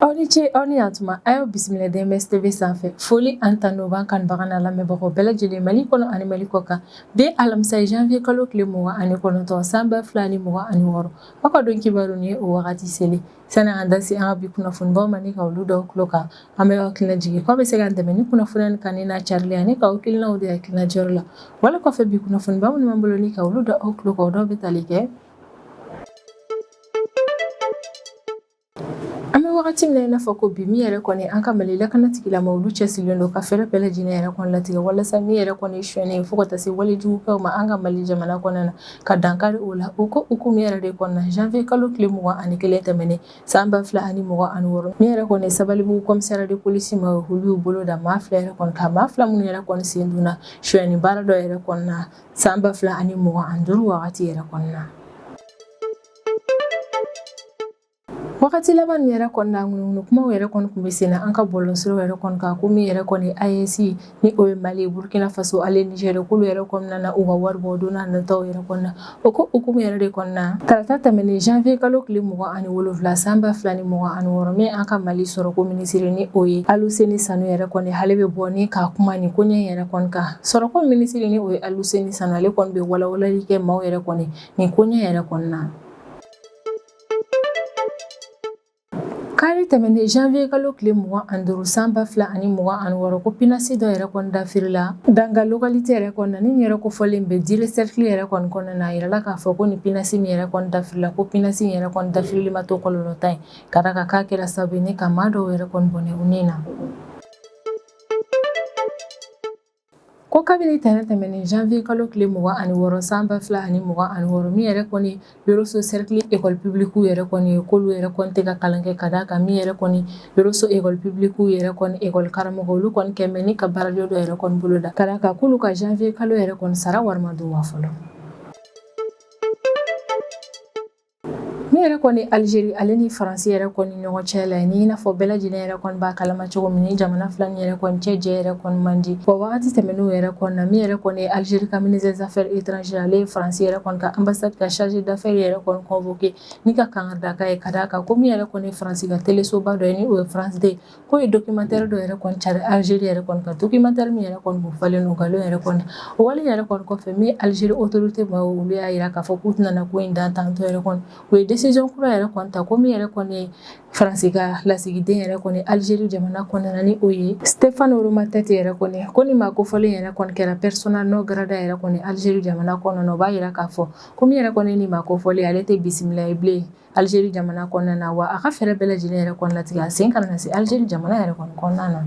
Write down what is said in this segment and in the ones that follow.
Aw ni ce aw ni yantuma a y'aw bisimila DMS TV sanfɛ foli ani tanu b'an kanubaga n'an lamɛnbagaw bɛɛ lajɛlen Mali kɔnɔ ani Mali kɔkan bi alamisa ye janvier kalo tile mugan ani kɔnɔntɔn san ba fila ni mugan ani wɔɔrɔ aw ka don kibaru ni ye o wagati selen San'an ka da se an ka bi kunnafonibaw ma ni ka olu d'aw tulo kan, an bɛ aw hakilina jigin k'aw bɛ se k'an dɛmɛ ni kunnafoniya ni kanuni n'a carili ye ani k'aw hakilinaw di hakilina jɔyɔrɔ la, wali kɔfɛ bi kunnafoniba minnu b'an bolo ni ka olu da aw tulo kan o dɔw bɛ tali kɛ An bɛ wagati min na i n'a fɔ ko bi min yɛrɛ kɔni an ka Mali lakanatigilamɔgɔw olu cɛsirilen don ka fɛɛrɛ bɛɛ lajɛlen yɛrɛ kɔni latigɛ walasa min yɛrɛ kɔni ye sonyali ye fo ka taa se wale jugu kɛw ma an ka Mali jamana kɔnɔna na ka dankari o la o ko hukumu yɛrɛ de kɔnɔna janvier kalo tile mugan ani kelen tɛmɛnen san ba fila ani mugan ani wɔɔrɔ min yɛrɛ kɔni Sabalibugu commissariat de police maaw olu y'u bolo da maa fila yɛrɛ kɔni kan maa fila minnu yɛrɛ kɔni sen donna sonyɛni baara dɔ yɛrɛ kɔnɔna san ba fila ani mugan ani duuru wagati yɛrɛ kɔnɔna Wagati laban yɛrɛ kɔnɔna na ŋunuŋunu kumaw yɛrɛ kɔni tun bɛ sen na an ka bɔlɔsiraw yɛrɛ kɔni kan ko min yɛrɛ kɔni AES ni o ye Mali ye Burkina Faso ani Niger k'olu yɛrɛ kɔnɔna na u ka wari bɔ don n'a nataw yɛrɛ kɔnɔna na o ko hukumu yɛrɛ de kɔnɔna na tarata tɛmɛnen janvier kalo tile mugan ani wolonwula san ba fila ni mugan ani wɔɔrɔ min an ka Mali sɔrɔko minisiri ni o ye Aluseni Sanu yɛrɛ kɔni ale bɛ bɔ ni ka kuma nin koɲɛ yɛrɛ kɔni kan sɔrɔko minisiri ni o ye Aluseni Sanu ale kɔni bɛ walawalali kɛ maaw yɛrɛ kɔni nin koɲɛ yɛrɛ kɔnɔna na Kari tɛmɛnen janvier kalo tile 25 san 2026 ko pinasi dɔ yɛrɛ kɔni dafirila Danga localité yɛrɛ kɔnɔna, ni nin yɔrɔ kofɔlen bɛ Diré cercle yɛrɛ kɔni kɔnɔna na, a yirala k'a fɔ ko nin pinasi min yɛrɛ kɔni dafirila, ko pinasi yɛrɛ kɔni dafirili ma to kɔlɔlɔtan ye, ka d'a kan k'a kɛra sababu ye ni ka maa dɔw yɛrɛ kɔni bɔnɛ u ni na. Ko kabini tɛnɛn tɛmɛnen janvier kalo tile 26 san 2026 min yɛrɛ kɔni Yorosso cercle école publique yɛrɛ kɔni k'olu yɛrɛ kɔni tɛ ka kalan kɛ ka d'a kan min yɛrɛ kɔni Yorosso école publique yɛrɛ kɔni école karamɔgɔ olu kɔni kɛ bɛ ni ka baarajɔ dɔ yɛrɛ kɔni bolo da ka d'a kan k'olu ka janvier kalo yɛrɛ kɔni sara wari ma d'u ma fɔlɔ. Min yɛrɛ kɔni Algérie ale ni faransi yɛrɛ kɔni ɲɔgɔn cɛ la ni n'a fɔ bɛɛ lajɛlen yɛrɛ kɔni b'a kalama cogo min ni jamana fila nin yɛrɛ kɔni cɛ jɛ yɛrɛ kɔni man di wa wagati tɛmɛnenw yɛrɛ kɔnɔna min yɛrɛ kɔni Algérie ka ministre des affaires étrangères ale ye faransi yɛrɛ kɔni ka ambassade ka chargé d'affaires yɛrɛ kɔni convoqué ni ka kankarida k'a ye ka d'a kan ko min yɛrɛ kɔni faransi ka telesoba dɔ ye ni o ye France deux ko ye dokimantɛri dɔ yɛrɛ kɔni cari alizeri yɛrɛ kɔni kan dokimantɛri min yɛrɛ kɔni b'u falen don nkalon yɛrɛ kɔni o wale yɛrɛ kɔni kɔfɛ min alizeri otorite maaw olu y'a jira k'a fɔ k'u tɛna ko in dan tantɔ yɛrɛ kɔni u ye desizɔn kura yɛrɛ kɔni ta ko min yɛrɛ kɔni ye faransi ka lasigiden yɛrɛ kɔni alizeri jamana kɔnɔna ni o ye Stéphane Romatet yɛrɛ kɔni ko nin maa kofɔlen yɛrɛ kɔni kɛra persona non grata yɛrɛ kɔni alizeri jamana kɔnɔna o b'a jira k'a fɔ ko min yɛrɛ kɔni nin maa kofɔlen ale tɛ bisimila ye bilen Alizeri jamana kɔnɔna na wa a ka fɛɛrɛ bɛɛ lajɛlen yɛrɛ kɔni latigɛ a sen kana se Alizeri jamana yɛrɛ kɔni kɔnɔna na.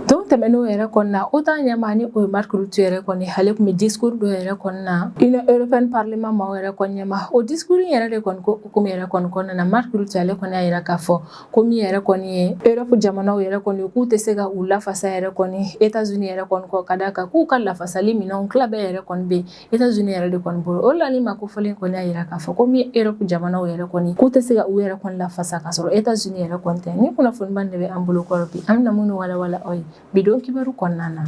Don tɛmɛnenw yɛrɛ kɔnɔna OTAN ɲɛmaa ni o ye Marc Rutte yɛrɛ kɔni ale tun bɛ discours dɔ yɛrɛ kɔnɔna Union européenne parlement maaw yɛrɛ kɔni ɲɛma o discours in yɛrɛ de kɔni ko hukumu yɛrɛ kɔni kɔnɔna na Marc Rutte ale kɔni y'a jira k'a fɔ ko min yɛrɛ kɔni ye Europe jamanaw yɛrɛ kɔni k'u tɛ se ka u lafasa yɛrɛ kɔni Etats-Unis yɛrɛ kɔni kɔ ka d'a kan k'u ka lafasali minɛnw tila bɛɛ yɛrɛ kɔni bɛ yen Etats-Unis yɛrɛ de kɔni bolo o la nin maa kofɔlen kɔni y'a jira k'a fɔ ko min Europe jamanaw yɛrɛ kɔni k'u tɛ se ka u yɛrɛ kɔni lafasa ka sɔrɔ Etats-Unis yɛrɛ kɔni tɛ nin kunnafonibaw de bɛ an bolo kɔrɔ bi an bɛna minnu walawala aw ye bi don kibaru kɔnɔna na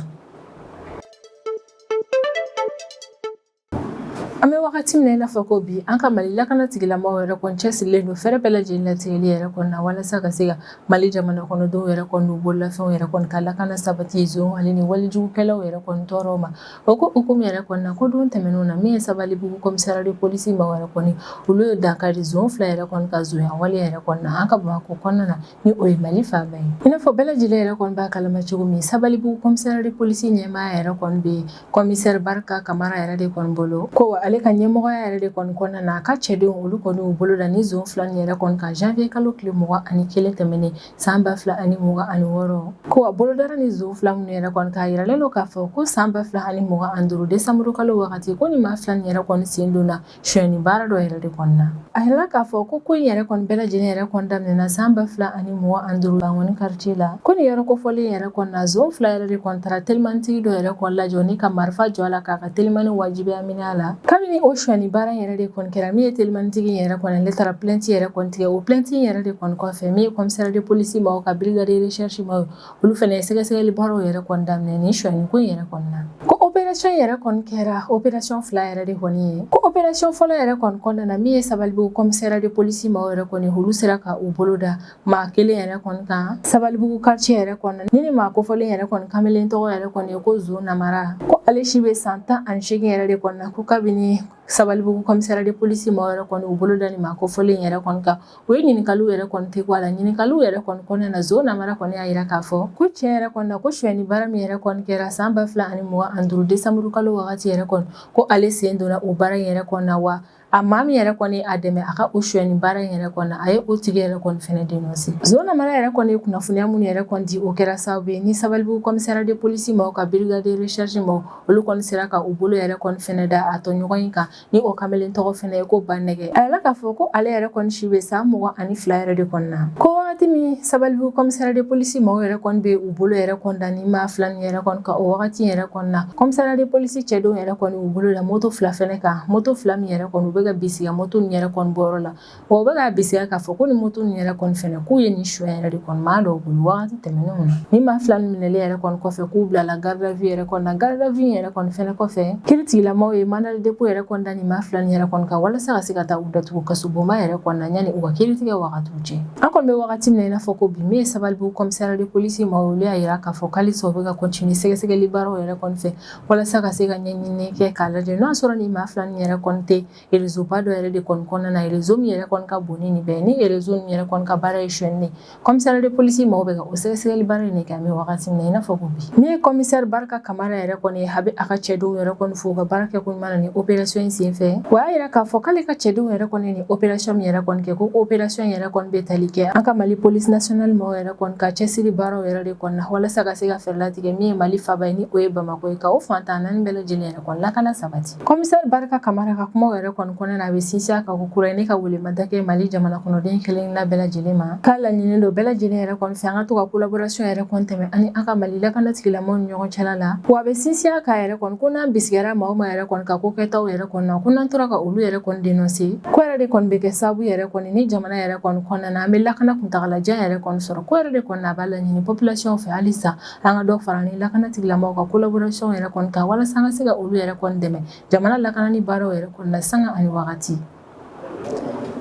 an bɛ wagati min na i n'a fɔ ko bi an ka mali lakanatigilamɔgɔw yɛrɛ kɔni cɛsirilen don fɛɛrɛ bɛɛ lajɛlen latigɛli yɛrɛ kɔni na walasa ka se ka mali jamana kɔnɔdenw yɛrɛ kɔni n'u bololafɛnw yɛrɛ kɔni ka lakana sabati zonw ani nin walijugukɛlaw yɛrɛ kɔni tɔɔrɔ ma O ko hukumu yɛrɛ kɔnɔna ko don tɛmɛnenw na min ye Sabalibugu commissariat de police mɔgɔw yɛrɛ kɔni olu ye dankari zon fila yɛrɛ kɔni ka zonya wale yɛrɛ kɔni na an ka Bamakɔ kɔnɔna na ni o ye Mali faaba ye i n'a fɔ bɛɛ lajɛlen yɛrɛ kɔni b'a kalama cogo min Sabalibugu commissariat de police ɲɛmaa yɛrɛ kɔni bɛ commissaire Barika Kamara yɛrɛ de kɔni bolo ko wa ale ka ɲɛmɔgɔya yɛrɛ de kɔni kɔnɔna na a ka cɛdenw olu kɔni y'u bolo da nin zon fila nin yɛrɛ kɔni kan janvier kalo tile mugan ani kelen tɛmɛnen san ba fila ani mugan ani wɔɔrɔ ko a bolo dara nin zon fila minnu yɛrɛ kɔni kan a yiralen don k'a fɔ ko san ba fila ani mugan ani duuru desanburu kalo wagati ko ni maa fila ni yɛrɛ kɔni sen donna sonyɛni baara dɔ yɛrɛ de kɔni na a yirala k'a fɔ ko ko in yɛrɛ kɔni bɛɛ lajɛlen yɛrɛ kɔni daminɛna san ba fila ani mugan ani duuru bankoni quartier la ko ni yɔrɔ kofɔlen yɛrɛ kɔni na zon fila yɛrɛ de kɔni taara telimanitigi dɔ yɛrɛ kɔni lajɔ ni ka marifa jɔ a la k'a Telimani wajibiya minɛ a la kabini o sonyɛni baara yɛrɛ de kɔni kɛra min ye telimanitigi yɛrɛ kɔni ale taara plainte yɛrɛ kɔni tigɛ o plainte yɛrɛ de kɔni kɔfɛ min ye commissariat de police maaw ka brigade de recherche maaw olu fana ye sɛgɛsɛgɛli baaraw yɛrɛ kɔni daminɛ nin sonyɛni ko yɛrɛ kɔni na ko opération yɛrɛ kɔni kɛra opération fila yɛrɛ de kɔni ye ko opération fɔlɔ yɛrɛ kɔni kɔnɔna na min ye Sabalibugu commissariat de police maaw yɛrɛ kɔni olu sera ka u bolo da maa kelen yɛrɛ kɔni kan sabalibugu quartier yɛrɛ kɔnɔna nin maa kofɔlen yɛrɛ kɔni kamalen tɔgɔ yɛrɛ kɔni ye ko zo namara ko ale si bɛ san tan ani seegin yɛrɛ de kɔni na ko kabini sabalibugu commissariat de police maaw yɛrɛ kɔni u bolo da ni maa kofɔlen yɛrɛ kɔni kan u ye ɲininkaliw yɛrɛ kɔni dabɔ a la ɲininkaliw yɛrɛ kɔni kɔnɔna na zo namara kɔni y'a jira k'a fɔ ko tiɲɛ yɛrɛ kɔni na ko sonyɛni baara min yɛrɛ kɔni kɛra san ba fila ani mugan ani duuru desanburu kalo wagati yɛrɛ kɔni ko ale sen donna o baara in yɛrɛ kɔni na wa A maa min yɛrɛ kɔni a dɛmɛ a ka o suɲɛni baara yɛrɛ kɔni na a ye o tigi yɛrɛ kɔni fana dénoncer Zo Namara yɛrɛ kɔni ye kunnafoniya min yɛrɛ kɔni di o kɛra sababu ye ni Sabalibugu commissariat de police maaw ka brigade de recherche maaw olu kɔni sera ka u bolo yɛrɛ kɔni fana da a tɔɲɔgɔn in kan ni o kamalen tɔgɔ fana ye ko Banɛgɛ a yirala k'a fɔ ko ale yɛrɛ kɔni si bɛ san mugan ani fila yɛrɛ de kɔni na ko wagati min Sabalibugu commissariat de police maaw yɛrɛ kɔni bɛ u bolo yɛrɛ kɔni da nin maa fila nin yɛrɛ kɔni kan o wagati yɛrɛ kɔni na commissariat de police cɛdenw yɛrɛ kɔni u bolo da moto fila fɛnɛ kan moto fila min yɛrɛ kɔni u bɛ ka bisiga moto nin yɛrɛ kɔni bɔyɔrɔ la wa u bɛ k'a bisiga k'a fɔ ko nin moto nin yɛrɛ kɔni fɛnɛ k'u ye nin suɲɛ yɛrɛ de kɔni maa dɔw bolo wagati tɛmɛnenw na nin maa fila nin minɛli yɛrɛ kɔni kɔfɛ k'u bilala garde à vue yɛrɛ kɔni na garde à vue yɛrɛ kɔni fɛnɛ kɔfɛ kiiritigilamaaw ye mandat de dépôt yɛrɛ kɔni da nin maa fila nin yɛrɛ kɔni kan walasa ka se ka taa u datugu kasobonba yɛrɛ kɔni na yanni u ka kiiritigɛ wagatiw cɛ An kɔni bɛ wagati min na i n'a fɔ ko bi min ye Sabalibugu commissariat de police maaw ye olu y'a jira k'a fɔ halisa u bɛ ka continuer sɛgɛsɛgɛli baaraw yɛrɛ kɔni fɛ walasa ka se ka ɲɛɲinini kɛ k'a lajɛ n'o y'a sɔrɔ nin maa fila nin yɛrɛ kɔni tɛ réseau ba dɔ yɛrɛ de kɔni kɔnɔna na réseau min yɛrɛ kɔni ka bon ni nin bɛɛ ye ni réseau min yɛrɛ kɔni ka baara ye sonyali de ye commissariat de police maaw bɛ ka o sɛgɛsɛgɛli baara in de kɛ an bɛ wagati min na i n'a fɔ ko bi min ye commissaire Barika Kamara yɛrɛ kɔni ye a bɛ a ka cɛdenw yɛrɛ kɔni fo u ka baara kɛ ko Man na nin opération in senfɛ o y'a yira k'a fɔ k'ale ka cɛdenw yɛrɛ kɔni ye nin opération min yɛrɛ kɔni kɛ ko opération yɛrɛ kɔni bɛ tali kɛ an ka mali police nationale mɔgɔw yɛrɛ kɔni ka cɛsiri baaraw yɛrɛ de kɔni na walasa ka se ka fɛɛrɛ latigɛ min ye mali faaba ye ni o ye bamako ye ka o fan tan naani bɛɛ lajɛlen yɛrɛ kɔni lakana sabati commissaire Barika Kamara ka kumaw yɛrɛ kɔni kɔnɔna na a bɛ sinsin a kan ko kura ye ni ka welemada kɛ mali jamana kɔnɔden kelenna bɛɛ lajɛlen ma k'a laɲini don bɛɛ lajɛlen yɛrɛ kɔni fɛ an ka to ka collaboration yɛrɛ kɔni tɛmɛ ani an ka mali lakana tigilamɔgɔw ni ɲɔgɔn cɛla la wa a bɛ sinsin a kan yɛrɛ ko n'an bisigara maa o maa yɛrɛ kɔni ka ko kɛtaw yɛrɛ kɔni na ko n'an tora ka olu yɛrɛ kɔni dénoncer k'o yɛrɛ de kɔni bɛ kɛ sababu yɛrɛ kɔni ni jamana yɛrɛ kɔni kɔnɔna na an bɛ lakana kuntaalajan yɛrɛ kɔni sɔrɔ ko yɛrɛ de kɔni a b'a laɲini population fɛ halisa an ka dɔ fara ni lakana tigilamaaw ka collaboration yɛrɛ kɔni kan walasa ka se ka olu yɛrɛ kɔni dɛmɛ jamana lakanani baaraw yɛrɛ kɔni na sanga ani wagati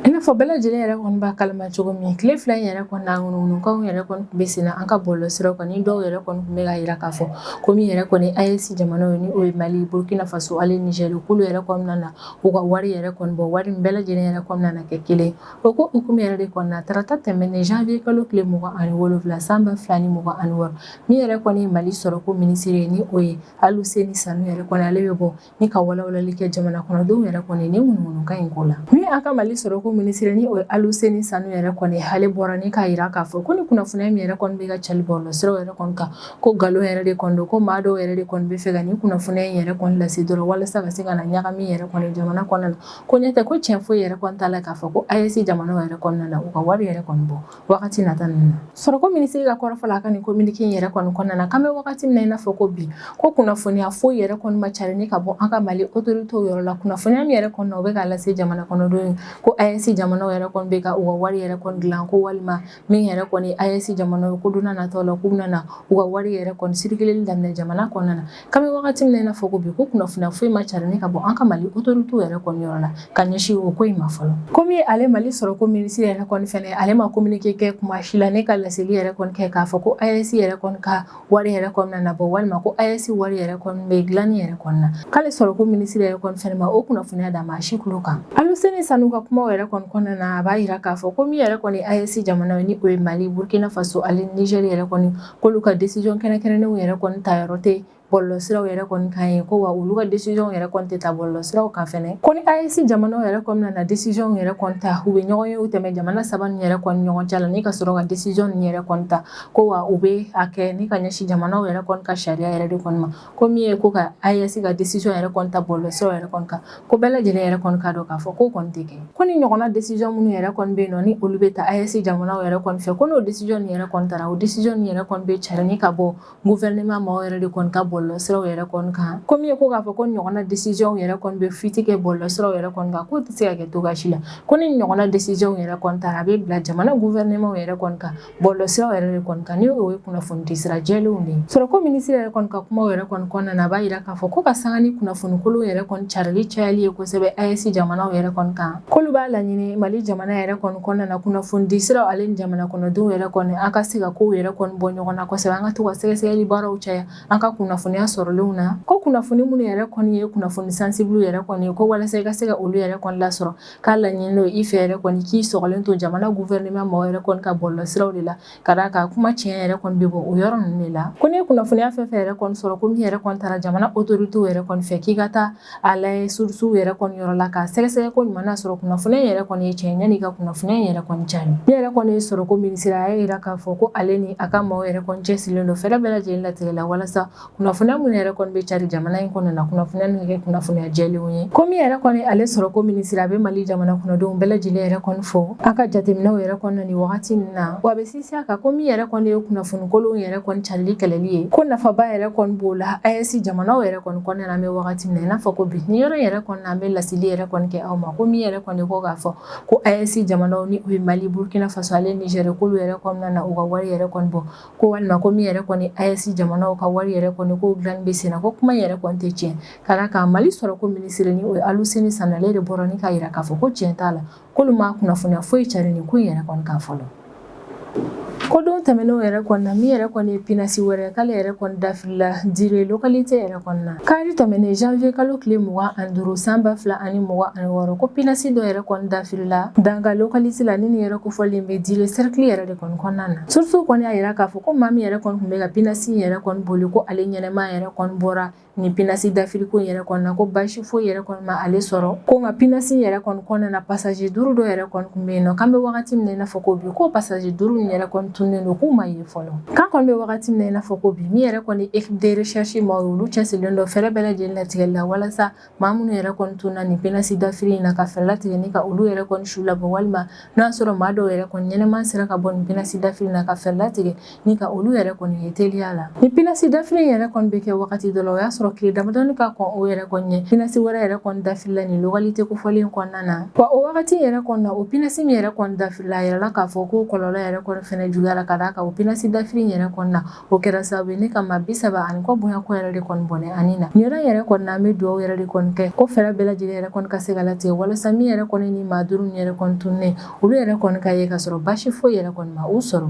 I n'a fɔ bɛɛ lajɛlen yɛrɛ kɔni b'a kalama cogo min tile fila in yɛrɛ kɔni na ŋunuŋunukanw yɛrɛ kɔni tun bɛ sen na an ka bɔlɔlɔsiraw kan ni dɔw yɛrɛ kɔni tun bɛ k'a jira k'a fɔ ko min yɛrɛ kɔni AES jamanaw ye ni o ye Mali Burukina Faso ani Niger k'olu yɛrɛ kɔni nana u ka wari yɛrɛ kɔni bɔ wari min bɛɛ lajɛlen yɛrɛ kɔni nana kɛ kelen o ko hukumu yɛrɛ de kɔnɔna na tarata tɛmɛnen janvier kalo tile mugan ani wolofila san ba fila ni mugan ani wɔɔrɔ min yɛrɛ kɔni ye mali sɔrɔ ko minisiri ye ni o ye Aluseni Sanu yɛrɛ kɔni ale bɛ bɔ Ni ka walawalali kɛ jamana kɔnɔdenw yɛrɛ kɔni nin ŋunuŋunukan in ko la ni an ka Mali sɔrɔ ko minisiri ni o ye Aluseni Sanu yɛrɛ kɔni ale bɔra ni k'a jira k'a fɔ ko ni kunnafoniya min yɛrɛ kɔni bɛ ka cari bɔlɔlɔsiraw yɛrɛ kɔni kan ko nkalon yɛrɛ de kɔni don ko maa dɔw yɛrɛ de kɔni bɛ fɛ ka ni kunnafoniya in yɛrɛ kɔni lase dɔrɔn walasa ka se ka na ɲagami yɛrɛ kɔni jamana kɔnɔ na ko n'o tɛ ko cɛn foyi yɛrɛ kɔni t'a la k'a fɔ ko AES jamanaw yɛrɛ kɔni nana u ka wari yɛrɛ kɔni bɔ wagati nata ninnu na sɔrɔko minisiri ka kɔrɔfɔ la a ka nin kominike in yɛrɛ kɔni kɔnɔna na k'an bɛ wagati min na i n'a fɔ ko bi ko kunnafoniya foyi yɛrɛ kɔni ma cari ni ka bɔ an ka mali otoritew yɔrɔ la kunnafoniya min yɛrɛ kɔni na o bɛ k'a lase jamana kɔnɔdenw ye ko AES jamanaw yɛrɛ kɔni bɛ ka u ka wari yɛrɛ kɔni dilan ko walima min yɛrɛ kɔni AES jamanaw ye ko don nataw la k'u bɛna u ka wari yɛrɛ kɔni sirikileli daminɛ jamana kɔnɔna na K'an bɛ wagati min na i n'a fɔ ko bi ko kunnafoniya foyi ma cari ni ka bɔ an ka Mali autorités yɛrɛ kɔni yɔrɔ la ka ɲɛsin o ko in ma fɔlɔ. Komi ale Mali sɔrɔko minisiri yɛrɛ kɔni fɛnɛ ale ma communiqué kɛ kuma si la ni ka laseli yɛrɛ kɔni kɛ k'a fɔ ko AES yɛrɛ kɔni ka wari yɛrɛ kɔni nana bɔ walima ko AES wari yɛrɛ kɔni bɛ dilanni yɛrɛ kɔni na k'ale sɔrɔko minisiri yɛrɛ kɔni fɛnɛ ma o kunnafoniya da maa si tulo kan. Aluseni Sanu ka kumaw yɛrɛ kɔni kɔnɔna na a b'a jira k'a fɔ ko min yɛrɛ kɔni AES jamanaw ni o ye Mali, Burkina Faso ani Niger yɛrɛ kɔni k'olu ka décision kɛrɛnkɛrɛnnenw yɛrɛ kɔni ta yɔrɔ tɛ bɔlɔlɔsiraw yɛrɛ kɔni kan ye ko wa olu ka décision yɛrɛ kɔni tɛ ta bɔlɔlɔsiraw kan fɛnɛ ko ni AES jamanaw yɛrɛ kɔni nana décision yɛrɛ kɔni ta u bɛ ɲɔgɔn ye u tɛmɛ jamana saba ninnu yɛrɛ kɔni ɲɔgɔn cɛ la ni ka sɔrɔ ka décision ninnu yɛrɛ kɔni ta ko wa u bɛ a kɛ ni ka ɲɛsin jamanaw yɛrɛ kɔni ka sariya yɛrɛ de kɔni ma ko min ye ko ka AES ka decision yɛrɛ kɔni ta bɔlɔlɔsiraw yɛrɛ kɔni kan ko bɛɛ lajɛlen yɛrɛ kɔni k'a dɔn k'a fɔ k'o kɔni tɛ kɛ ko nin ɲɔgɔnna decision minnu yɛrɛ kɔni bɛ yen nɔ ni olu bɛ ta AES jamanaw yɛrɛ kɔni fɛ ko n'o decision nin yɛrɛ kɔni tara o decision nin yɛrɛ kɔni bɛ cari ni ka bɔ gouvernement maaw yɛrɛ de kɔni ka bɔlɔlɔsiraw yɛrɛ kɔni kan ko min ye ko k'a fɔ k'o ɲɔgɔnna decision yɛrɛ kɔni bɛ fuite kɛ bɔlɔlɔsiraw yɛrɛ kɔni kan k'o tɛ se ka kɛ cogoya si la ko ni ɲɔgɔnna decision yɛrɛ kɔni tara a bɛ bila jamana gouvernement yɛrɛ kɔni ka Bɔlɔlɔsiraw yɛrɛ de kɔni kan ni o ye kunnafoni di sira jɛlenw de ye sɔrɔko minisiri yɛrɛ kɔni ka kumaw yɛrɛ kɔni kɔnɔna na a b'a jira k'a fɔ ko ka sanga ni kunnafonikolon yɛrɛ kɔni carili cayali ye kosɛbɛ AES jamanaw yɛrɛ kɔni kan k'olu b'a laɲini Mali jamana yɛrɛ kɔni kɔnɔna na kunnafoni di siraw ale ni jamana kɔnɔdenw yɛrɛ kɔni an ka se ka kow yɛrɛ kɔni bɔ ɲɔgɔn na kosɛbɛ an ka to ka sɛgɛsɛgɛli baaraw caya an ka kunnafoniya sɔrɔlenw na ko kunnafoni minnu yɛrɛ kɔni ye kunnafoni sansibiliw yɛrɛ kɔni ye ko walasa i ka se ka olu yɛrɛ kɔni lasɔrɔ K'a laɲini n'o ye i fɛ yɛrɛ kɔni k'i sɔgɔlen to jamana gouvernement maaw yɛrɛ kɔni ka bɔlɔlɔsiraw de la ka d'a kan kuma tiɲɛ yɛrɛ kɔni bɛ bɔ o yɔrɔ ninnu de la, ko n'i ye kunnafoniya fɛn o fɛn yɛrɛ kɔni sɔrɔ ko min yɛrɛ kɔni tara jamana autorités yɛrɛ kɔni fɛ k'i ka taa a lajɛ source yɛrɛ kɔni yɔrɔ la k'a sɛgɛsɛgɛ koɲuman n'a sɔrɔ kunnafoniya in yɛrɛ kɔni ye tiɲɛ ye yanni i ka kunnafoniya in yɛrɛ kɔni cari, min yɛrɛ kɔni ye sɔrɔko minisiri a y'a jira k'a fɔ ko ale ni a ka maaw yɛrɛ kɔni cɛsirilen don fɛɛrɛ bɛɛ lajɛlen latigɛ la walasa Kunnafoniya minnu yɛrɛ kɔni bɛ cari jamana in kɔnɔ na kunnafoniya ninnu kɛ kunnafoniya jɛlenw ye ko min yɛrɛ kɔni ale sɔrɔko minisiri a bɛ mali jamana kɔnɔdenw bɛɛ lajɛlen yɛrɛ kɔni fo an ka jateminɛw yɛrɛ kɔnɔ nin wagati min na wa a bɛ sinsin a kan ko min yɛrɛ kɔni ye kunnafonikolonw yɛrɛ kɔni carili kɛlɛli ye ko nafaba yɛrɛ kɔni b'o la AES jamanaw yɛrɛ kɔni kɔnɔna na an bɛ wagati min na i n'a fɔ ko bi nin yɔrɔ yɛrɛ kɔni na an bɛ laseli yɛrɛ kɔni kɛ aw ma ko min yɛrɛ kɔni ko k'a fɔ ko AES jamanaw ni o ye mali burukina faso ale nizɛri k'olu yɛrɛ kɔni nana u ka wari yɛrɛ kɔni bɔ ko walima ko min yɛrɛ kɔni AES jamanaw ka wari yɛrɛ kɔni ko dilanni bɛ senna ko kuma in yɛrɛ kɔni tɛ tiɲɛ ka d'a kan Mali sɔrɔko minisiri ni o ye Aluseni Sanu ale de bɔra ni k'a yira k'a fɔ ko tiɲɛ t'a la k'olu ma kunnafoniya foyi cari nin ko in yɛrɛ kɔni kan fɔlɔ. Ko don tɛmɛnenw yɛrɛ kɔni na min yɛrɛ kɔni ye pinasi wɛrɛ k'ale yɛrɛ kɔni dafirila Dire localité yɛrɛ kɔnɔna kari tɛmɛnen janvier kalo tile mugan ani duuru san ba fila ani mugan ani wɔɔrɔ ko pinasi dɔ yɛrɛ kɔni dafirila Danga localité la ni nin yɛrɛ kofɔlen bɛ Dire serikili yɛrɛ de kɔni kɔnɔna na source kɔni y'a yira k'a fɔ ko maa min yɛrɛ kɔni tun bɛ ka pinasi yɛrɛ kɔni boli ko ale ɲɛnɛma yɛrɛ kɔni bɔra nin pinasi dafiriko yɛrɛ kɔnɔna ko basi foyi yɛrɛ kɔni ma ale sɔrɔ ko nka pinasi yɛrɛ kɔni kɔnɔna na pasaje duuru dɔ yɛrɛ kɔni tun bɛ yen nɔ k'an bɛ wagati min na i n'a fɔ ko bi ko pasaje duuru in yɛrɛ kɔni tunnen don k'u ma ye fɔlɔ k'an kɔni bɛ wagati min na i n'a fɔ ko bi min yɛrɛ kɔni équipe de recherche maa olu cɛsirilen don fɛɛrɛ bɛɛ lajɛlen latigɛli la walasa maa minnu yɛrɛ kɔni tunna nin pinasi dafiri in na ka fɛɛrɛ latigɛ ni ka olu yɛrɛ kɔni su labɔ walima n'o y'a sɔrɔ maa dɔw yɛrɛ kɔni ɲɛnɛman sera ka bɔ nin pinasi dafiri na ka fɛɛrɛ latigɛ ni ka olu yɛrɛ kɔni ye teliya la ni pinasi dafiri in yɛrɛ kɔni bɛ kɛ wagati dɔ la o y'a sɔrɔ tile damadɔni ka kɔn o yɛrɛ kɔni ɲɛ pinasi wɛrɛ yɛrɛ kɔni dafirila nin localité kofɔlen kɔnɔna na wa o wagati yɛrɛ kɔnɔna o pinasi min yɛrɛ kɔni dafiri la a yirala k'a fɔ ko kɔlɔlɔ yɛrɛ kɔni fɛnɛ juguyara ka d'a kan o pinasi dafiri yɛrɛ kɔnɔna na o kɛra sababu ni ka maa bi saba ani kɔ bonya ko yɛrɛ de kɔni bɔnɛ a ni na nin yɔrɔ yɛrɛ kɔnɔna an bɛ dugawu yɛrɛ de kɔni kɛ ko fɛɛrɛ bɛɛ lajɛlen yɛrɛ kɔni ka se ka latigɛ walasa min yɛrɛ kɔni ni maa duuru yɛrɛ kɔni tunnen olu yɛrɛ kɔni ka ye ka sɔrɔ basi foyi yɛrɛ kɔni ma u sɔrɔ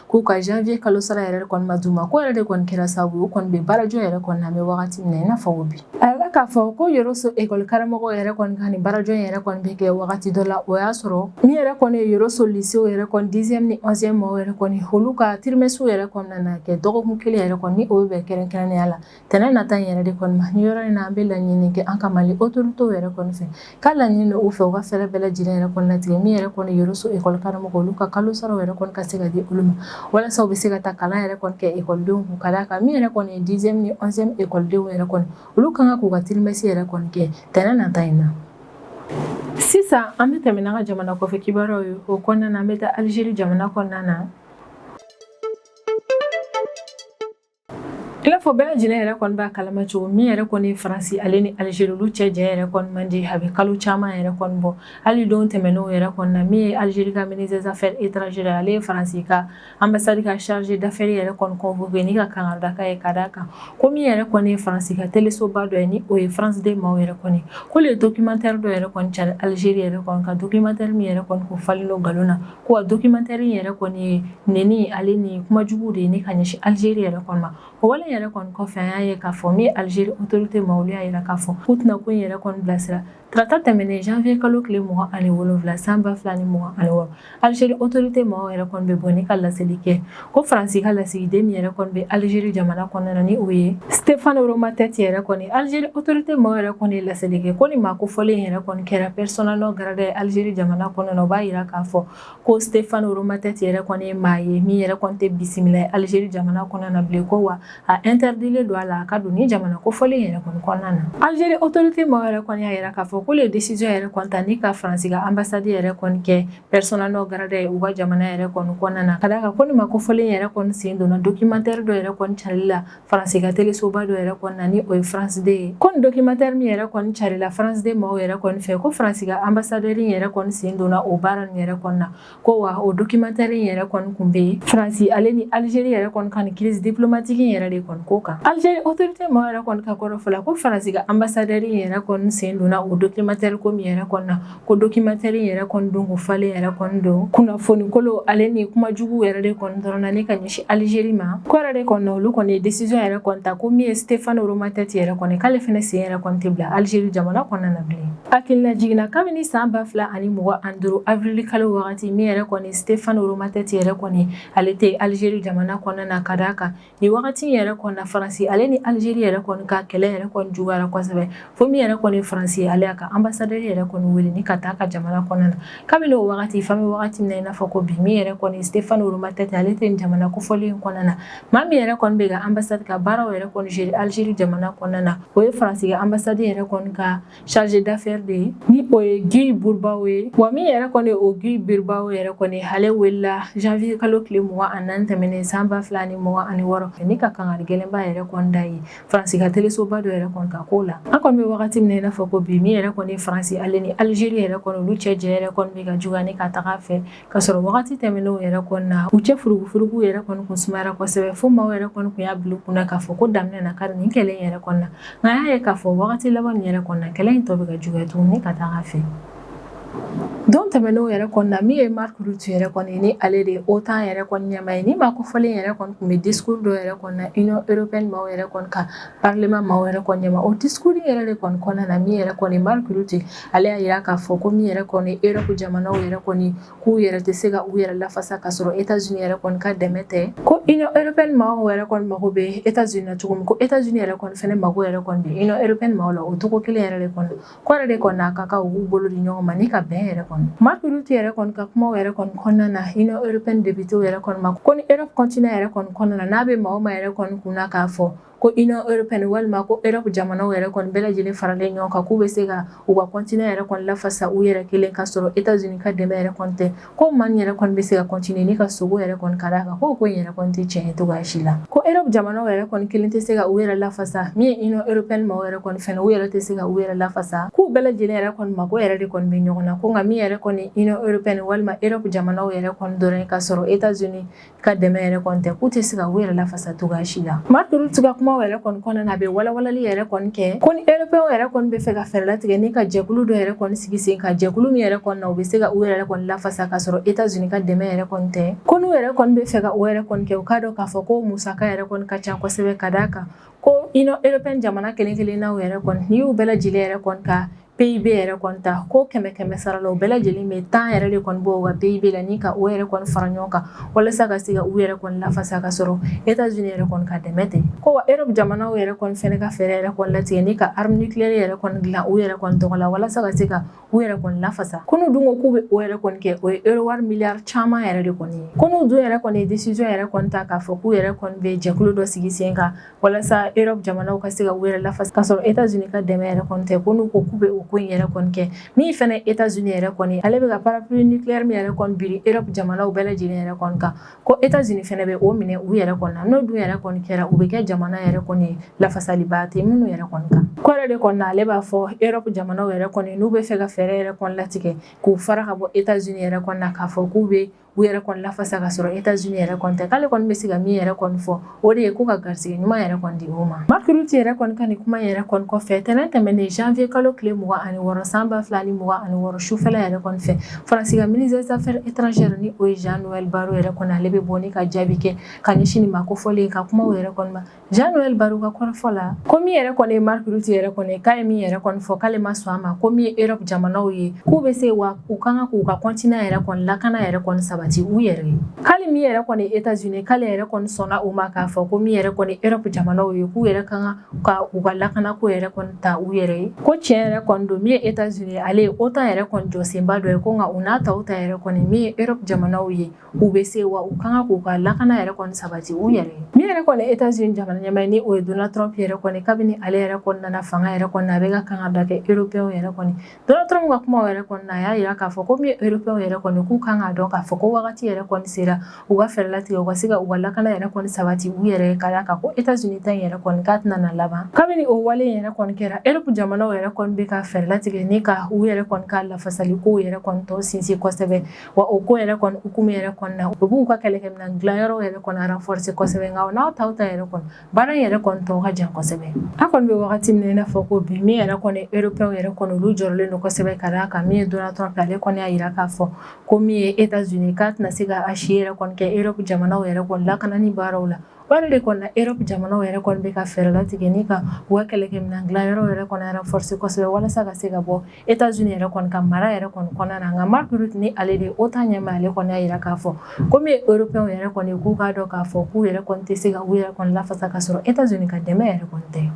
K'u ka janvier kalo sara yɛrɛ kɔni ma d'u ma k'o yɛrɛ de kɔni kɛra sababu ye u kɔni bɛ baarajɔ yɛrɛ kɔni na an bɛ wagati min na i n'a fɔ ko bi a yira k'a fɔ ko Yoroso école karamɔgɔw yɛrɛ kɔni ka nin baarajɔ in yɛrɛ kɔni bɛ kɛ wagati dɔ la o y'a sɔrɔ min yɛrɛ kɔni ye Yoroso lycée yɛrɛ kɔni dixième ni onzième mɔgɔw yɛrɛ kɔni olu ka trimestre yɛrɛ kɔni na na kɛ dɔgɔkun kelen yɛrɛ kɔni ni o bɛ bɛn kɛrɛnkɛrɛnnenya la tɛnɛn nata in yɛrɛ de kɔni ma ni yɔrɔ in na an bɛ laɲini kɛ an ka Mali autorité yɛrɛ kɔni fɛ k'a laɲini u fɛ u ka fɛɛrɛ bɛɛ lajɛlen yɛrɛ kɔni latigɛ min yɛrɛ kɔni Yoroso école karamɔgɔw olu ka kalo sara yɛrɛ kɔni ka se ka di olu ma walasa u bɛ se ka taa kalan yɛrɛ kɔni kɛ ekɔlidenw kun ka d'a kan min yɛrɛ kɔni ye dixième ni onzième ekɔlidenw yɛrɛ kɔni olu kan ka k'u ka trimestre yɛrɛ kɔni kɛ tɛnɛn nata in na sisan an bɛ tɛmɛ n'an ka jamana kɔfɛ kibaruyaw ye o kɔnɔna an bɛ taa alizeri jamana kɔnɔna na I n'a fɔ bɛɛ lajɛlen yɛrɛ kɔni b'a kalama cogo min yɛrɛ kɔni faransi ale ni alizeri olu cɛ jɛ yɛrɛ kɔni man di a bɛ kalo caman yɛrɛ kɔni bɔ hali don tɛmɛnenw yɛrɛ kɔni na min ye alizeri ka ministre des affaires étrangères ale ye faransi ka ambassade ka chargé d'affaires yɛrɛ kɔni convoqué ni ka kangari d'a ye ka d'a kan ko min yɛrɛ kɔni ye faransi ka telesoba dɔ ye ni o ye France deux maaw yɛrɛ kɔni k'o de ye dɔkimantɛri dɔ yɛrɛ kɔni cari alizeri yɛrɛ kɔni kan dɔkimantɛri min yɛrɛ kɔni ko falen don nkalon na Ko wa dɔkimantɛri in yɛrɛ kɔni ye neni ale ni kuma jugu de ye ni ka ɲɛsin alizeri yɛrɛ kɔni ma o wale yɛrɛ kɔni kɔfɛ an y'a ye k'a fɔ min ye alizeri autorité maa olu y'a yira k'a fɔ k'u tɛna ko in yɛrɛ kɔni bilasira tarata tɛmɛnen janvier kalo tile mugan ani wolonwula san ba fila ni mugan ani wɔɔrɔ alizeri autorité maaw yɛrɛ kɔni bɛ bɔ ni ka laseli kɛ ko faransi ka lasigiden min yɛrɛ kɔni bɛ alizeri jamana kɔnɔna na ni o ye stefan romatɛti yɛrɛ kɔni alizeri otorite maaw yɛrɛ kɔni ye laseli kɛ ko ni maa kofɔlen yɛrɛ kɔni kɛra persona non grata ye alizeri jamana kɔnɔna na o b'a yira k'a fɔ ko stefan romatɛti yɛrɛ kɔni ye maa ye min yɛrɛ kɔni tɛ bisimila ye alizeri jamana kɔnɔna na bilen ko wa a intɛridilen don a la a ka don ni jamana kofɔlen yɛrɛ kɔni kɔnɔna na alizeri otorite maaw yɛrɛ kɔni y'a yira k'a fɔ k'olu ye desiziyɔn yɛrɛ kɔni ta ni ka faransi ka anbasadi yɛrɛ kɔni kɛ persona non grata ye u ka jamana yɛrɛ kɔni kɔnɔna na ka d'a kan ko nin maa kofɔlen yɛrɛ kɔni sen donna dokimatɛri dɔ yɛrɛ kɔni carili la faransi ka telesoba dɔ yɛrɛ kɔni na ni o ye france deux ye ko nin dokimatɛri min yɛrɛ kɔni carila france deux maaw yɛrɛ kɔni fɛ ko faransi ka anbasadɛri yɛrɛ kɔni sen donna o baara nin yɛrɛ kɔni na ko wa o dokimatɛri yɛrɛ kɔni kun bɛ faransi ale ni alizeri yɛrɛ kɔni ka nin kirisi diplomatiki yɛrɛ de kɔni ko kan alizeri otorite maaw yɛrɛ kɔni ka kɔrɔfɔ la ko faransi ka anbasadɛri yɛrɛ kɔni sen donna o dokimatɛri ko min yɛrɛ kɔni na ko dokimatɛri yɛrɛ kɔni don ko falen yɛrɛ kɔni don kunnafonikolon ale ni kuma jugu yɛrɛ de kɔni dɔrɔn na ni ka ɲɛsin alizeri ma k'o yɛrɛ de kɔni na olu kɔni ye desiziyɔn yɛrɛ kɔni ta ko min ye stefan romatɛti yɛrɛ kɔni k'ale fana sen yɛrɛ kɔni tɛ bila alizeri jamana kɔnɔna na bilen hakililajigin na kabini san ba fila ani mugan ani duuru avril kalo wagati min yɛrɛ kɔni stefan romatɛti yɛrɛ kɔni ale tɛ alizeri jamana kɔnɔna na ka d'a kan Ni wagati yɛrɛ kɔni na faransi ale ni alizeri yɛrɛ kɔni ka kɛlɛ yɛrɛ kɔni juguyara kosɛbɛ fo min yɛrɛ kɔni faransi ale y'a ka anbasadɛri yɛrɛ kɔni wele ni ka taa ka jamana kɔnɔna na kabini o wagati f'an bɛ wagati min na i n'a fɔ ko bi min yɛrɛ kɔni stefan romatɛti ale tɛ jamana kofɔlen kɔnɔna na maa min yɛrɛ kɔni bɛ ka anbasadi ka baaraw yɛrɛ kɔni gérer alizeri jamana kɔnɔna na o ye faransi ka anbasadi yɛrɛ kɔni ka chargé d'affaires de ye ni o ye gilles bourbao ye wa min yɛrɛ kɔni o gilles bourbao yɛrɛ kɔni ale welila janvier kalo tile mugan ani naani tɛmɛnen san ba fila ni mugan ani wɔɔrɔ ni ka kangari gɛlɛnba yɛrɛ kɔni d'a ye faransi ka telesoba dɔ yɛrɛ kɔni ka ko la an kɔni bɛ wagati min na i n'a fɔ ko bi min yɛrɛ kɔni faransi ale ni alizeri yɛrɛ kɔni olu cɛ jɛ yɛrɛ kɔni bɛ ka juguya ni ka taga fɛ Ka sɔrɔ wagati tɛmɛnenw yɛrɛ kɔni na u cɛ furugufurugu yɛrɛ kɔni tun sumayara kosɛbɛ fo maaw yɛrɛ kɔni tun y'a bila u kun na k'a fɔ ko dan bɛna kari nin kɛlɛ yɛrɛ kɔni na nka an y'a ye k'a fɔ wagati laban nin yɛrɛ kɔni na kɛlɛ in tɔ bɛ ka juguya tuguni ka taa a fɛ don tɛmɛnenw yɛrɛ kɔni na min ye mark rutte yɛrɛ kɔni ni ale de ye otan yɛrɛ kɔni ɲɛmaa ye ni maa kofɔlen yɛrɛ kɔni tun bɛ discours dɔ yɛrɛ kɔni na union européenne maaw yɛrɛ kɔni ka parlement maaw yɛrɛ kɔni ɲɛma o discours yɛrɛ de kɔni kɔnɔna na min yɛrɛ kɔni mark rutte ale y'a yira k'a fɔ ko min yɛrɛ kɔni europe jamanaw yɛrɛ kɔni k'u yɛrɛ tɛ se ka u yɛrɛ lafasa ka sɔrɔ états-unis yɛrɛ kɔni ka dɛmɛ tɛ ko union européenne maaw yɛrɛ kɔni mago bɛ états-unis na cogo min ko états-unis yɛrɛ kɔni fana mago yɛrɛ kɔni bɛ union européenne maaw la o cogo kelen yɛrɛ de kɔni k'o yɛrɛ de kɔni a ka kan u b'u bolo di ɲɔgɔn ma ni ka bɛn yɛrɛ kɔni mark rutte yɛrɛ kɔni ka kuma yɛrɛ kɔni kɔnɔna na union européenne députés yɛrɛ kɔni ma ko ni europe continent yɛrɛ kɔni kɔnɔna na n'a bɛ maa o maa yɛrɛ kɔni kun k'a fɔ ko Union européenne walima ko Europe jamanaw yɛrɛ kɔni bɛɛ lajɛlen faralen ɲɔgɔn kan k'u bɛ se ka u ka continent yɛrɛ kɔni lafasa u yɛrɛ kelen ka sɔrɔ Etats-Unis ka dɛmɛ yɛrɛ kɔni tɛ ko maa in yɛrɛ kɔni bɛ se ka continuer ni ka sogo yɛrɛ kɔni ka d'a kan ko ko in yɛrɛ kɔni tɛ tiɲɛ ye cogoya si la ko Europe jamanaw yɛrɛ kɔni kelen tɛ se ka u yɛrɛ lafasa min ye Union européenne maaw yɛrɛ kɔni u yɛrɛ tɛ se ka u yɛrɛ lafasa k'u bɛɛ lajɛlen yɛrɛ kɔni mago yɛrɛ de kɔni bɛ ɲɔgɔn na ko nka min yɛrɛ kɔni Union européenne walima Europe jamanaw yɛrɛ kɔni dɔrɔn ka sɔrɔ Etats-Unis ka dɛmɛ yɛrɛ kɔni tɛ k'u tɛ se ka u yɛrɛ lafasa cogoya si la Mark Rutte ka kumaw yɛrɛ kɔni kɔnɔna na a bɛ walawalali yɛrɛ kɔni kɛ ko ni Européens yɛrɛ kɔni bɛ fɛ ka fɛɛrɛ latigɛ ni ka jɛkulu dɔ yɛrɛ kɔni sigi sen kan jɛkulu min yɛrɛ kɔni na u bɛ se ka u yɛrɛ kɔni lafasa ka sɔrɔ Etats-Unis ka dɛmɛ yɛrɛ kɔni tɛ ko n'u yɛrɛ kɔni bɛ fɛ ka o yɛrɛ kɔni kɛ u k'a dɔn k'a fɔ ko musaka yɛrɛ kɔni ka ca kosɛbɛ ka d'a kan ko Union européenne jamana kelen kelennaw yɛrɛ kɔni n'i y'u bɛɛ lajɛlen yɛrɛ kɔni ka PIB yɛrɛ kɔni ta ko kɛmɛ kɛmɛ sara la u bɛɛ lajɛlen bɛ tan yɛrɛ de kɔni bɔ u ka PIB la ni ka o yɛrɛ kɔni fara ɲɔgɔn kan walasa ka se ka u yɛrɛ kɔni lafasa ka sɔrɔ Etats-Unis yɛrɛ kɔni ka dɛmɛ tɛ ko wa Europe jamanaw yɛrɛ kɔni fɛnɛ ka fɛɛrɛ yɛrɛ kɔni latigɛ ni ka arme nucléaire yɛrɛ kɔni dilan u yɛrɛ kɔni tɔgɔ la walasa ka se ka u yɛrɛ kɔni lafasa ko n'u dun ko k'u bɛ o yɛrɛ kɔni kɛ o ye euro wari miliyari caman yɛrɛ de kɔni ye ko n'u dun yɛrɛ kɔni ye décision yɛrɛ kɔni ta k'a fɔ k'u yɛrɛ kɔni bɛ jɛkulu dɔ sigi sen kan walasa Europe jamanaw ka se ka u yɛrɛ lafasa ka sɔrɔ Etats-Unis ka dɛmɛ yɛrɛ kɔni tɛ ko n'u ko k'u bɛ o ko in yɛrɛ kɔni kɛ min fana ye Etats-Unis yɛrɛ kɔni ale bɛ ka parapluie nucléaire min yɛrɛ kɔni biri Europe jamanaw bɛɛ lajɛlen yɛrɛ kɔni kan ko Etats-Unis fana bɛ o minɛ u yɛrɛ kɔni na n'o dun yɛrɛ kɔni kɛra u bɛ kɛ jamana yɛrɛ kɔni ye lafasaliba tɛ minnu yɛrɛ kɔni kan k'o yɛrɛ de kɔni na ale b'a fɔ Europe jamanaw yɛrɛ kɔni n'u bɛ fɛ ka fɛɛrɛ yɛrɛ kɔni latigɛ k'u fara ka bɔ Etats-Unis yɛrɛ kɔni na k'a fɔ k'u bɛ u yɛrɛ kɔni lafasa ka sɔrɔ Etats-Unis yɛrɛ kɔni tɛ k'ale kɔni bɛ se ka min yɛrɛ kɔni fɔ o de ye ko ka garisɛgɛ ɲuman yɛrɛ kɔni di o ma Mark Rutte yɛrɛ kɔni ka nin kuma yɛrɛ kɔni kɔfɛ tɛnɛn tɛmɛnen janvier kalo tile mugan ani wɔɔrɔ san ba fila ni mugan ani wɔɔrɔ sufɛla yɛrɛ kɔni fɛ Faransi ka ministre des affaires étrangères ni o ye Jean-Noël Barrot yɛrɛ kɔni ale bɛ bɔ ka jaabi kɛ ka ɲɛsin nin maa kofɔlen ka kuma yɛrɛ kɔni Jean-Noël Barrot ka kɔrɔfɔ la ko min yɛrɛ kɔni ye Mark Rutte yɛrɛ kɔni k'a ye min yɛrɛ kɔni fɔ k'ale ma sɔn a ma ko min ye Europe jamanaw ye k'u bɛ se wa u ka kan k'u ka continent yɛrɛ kɔni lakana yɛrɛ kɔni sabati u yɛrɛ ye k'ale min yɛrɛ kɔni ye Etats-Unis k'ale yɛrɛ kɔni sɔnna o ma k'a fɔ ko min yɛrɛ kɔni Europe jamanaw ye k'u yɛrɛ ka kan ka u ka lakana ko yɛrɛ kɔni ta u yɛrɛ ye ko tiɲɛ yɛrɛ kɔni don min ye Etats-Unis ale ye OTAN yɛrɛ kɔni jɔsenba dɔ ye ko nka o n'a ta o ta yɛrɛ kɔni min ye Europe jamanaw ye u bɛ se wa u ka kan k'u ka lakana yɛrɛ kɔni sabati u yɛrɛ ye min yɛrɛ kɔni Etats-Unis jamana ɲɛmaa ni o ye Donald Trump yɛrɛ kɔni kabini ale yɛrɛ kɔni nana fanga yɛrɛ kɔni a bɛ ka kankarida kɛ Européens yɛrɛ kɔni Donald Trump ka kuma yɛrɛ kɔni a y'a jira k'a fɔ ko min ye Européens yɛrɛ kɔni k'u ka kan k'a dɔn k'a fɔ ko wagati yɛrɛ kɔni sera u ka fɛɛrɛ latigɛ u ka se ka u ka lakana yɛrɛ kɔni sabati u yɛrɛ ye ka d'a kan ko Etats-Unis ta yɛrɛ kɔni k'a tɛna laban kabini o wale yɛrɛ kɔni kɛra Europe jamanaw yɛrɛ kɔni bɛ ka fɛɛrɛ latigɛ ni ka u yɛrɛ kɔni ka lafasali ko yɛrɛ kɔni tɔn sinsin kosɛbɛ wa o ko yɛrɛ kɔni hukumu yɛrɛ kɔnɔna na u b'u ka kɛlɛkɛminɛn dilanyɔrɔw yɛrɛ kɔni renforcer kosɛbɛ nka o n'a ta o ta yɛrɛ kɔni baara in yɛrɛ kɔni tɔ ka jan kosɛbɛ a kɔni bɛ wagati min na i n'a fɔ ko bi min yɛrɛ kɔni Européens yɛrɛ kɔni olu jɔrɔlen don kosɛbɛ ka d'a kan min ye Donald Trump ale kɔni y'a jira k'a fɔ kɔmi États-Unis k'a tɛna se ka a si yɛrɛ kɔni kɛ Europe jamanaw yɛrɛ kɔni lakanani baaraw la wa nin de kɔnɔna Europe jamanaw yɛrɛ kɔni bɛ ka fɛɛrɛ latigɛ ni ka u ka kɛlɛkɛminɛn dilanyɔrɔw yɛrɛ kɔni renforcer kosɛbɛ walasa ka se ka bɔ États-Unis yɛrɛ kɔni ka mara yɛrɛ kɔni kɔnɔna na nka Mark Rutte ni ale de OTAN ɲɛmaa ale kɔni y'a jira k'a fɔ kɔmi Europe yɛrɛ kɔni k'u k'a dɔn k'a fɔ k'u yɛrɛ tɛ se ka u yɛrɛ kɔni lafasa ka sɔrɔ États-Unis ka dɛmɛ yɛrɛ kɔni tɛ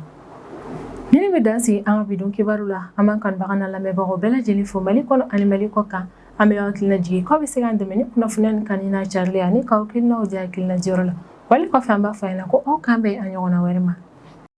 nin bɛ dan sigi an ka bi don kibaru la an b'an kanubagaw n'an lamɛnbagaw bɛɛ lajɛlen fo Mali kɔnɔ ani Mali kɔkan an b'aw hakili lajigin k'aw bɛ se k'an dɛmɛ ni kunnafoni nin kanuni n'a carili ani k'aw hakilinaw di hakilinajirayɔrɔ la wa nin kɔfɛ an b'a fɔ aw ɲɛna ko aw k'an bɛn a ɲɔgɔn wɛrɛ ma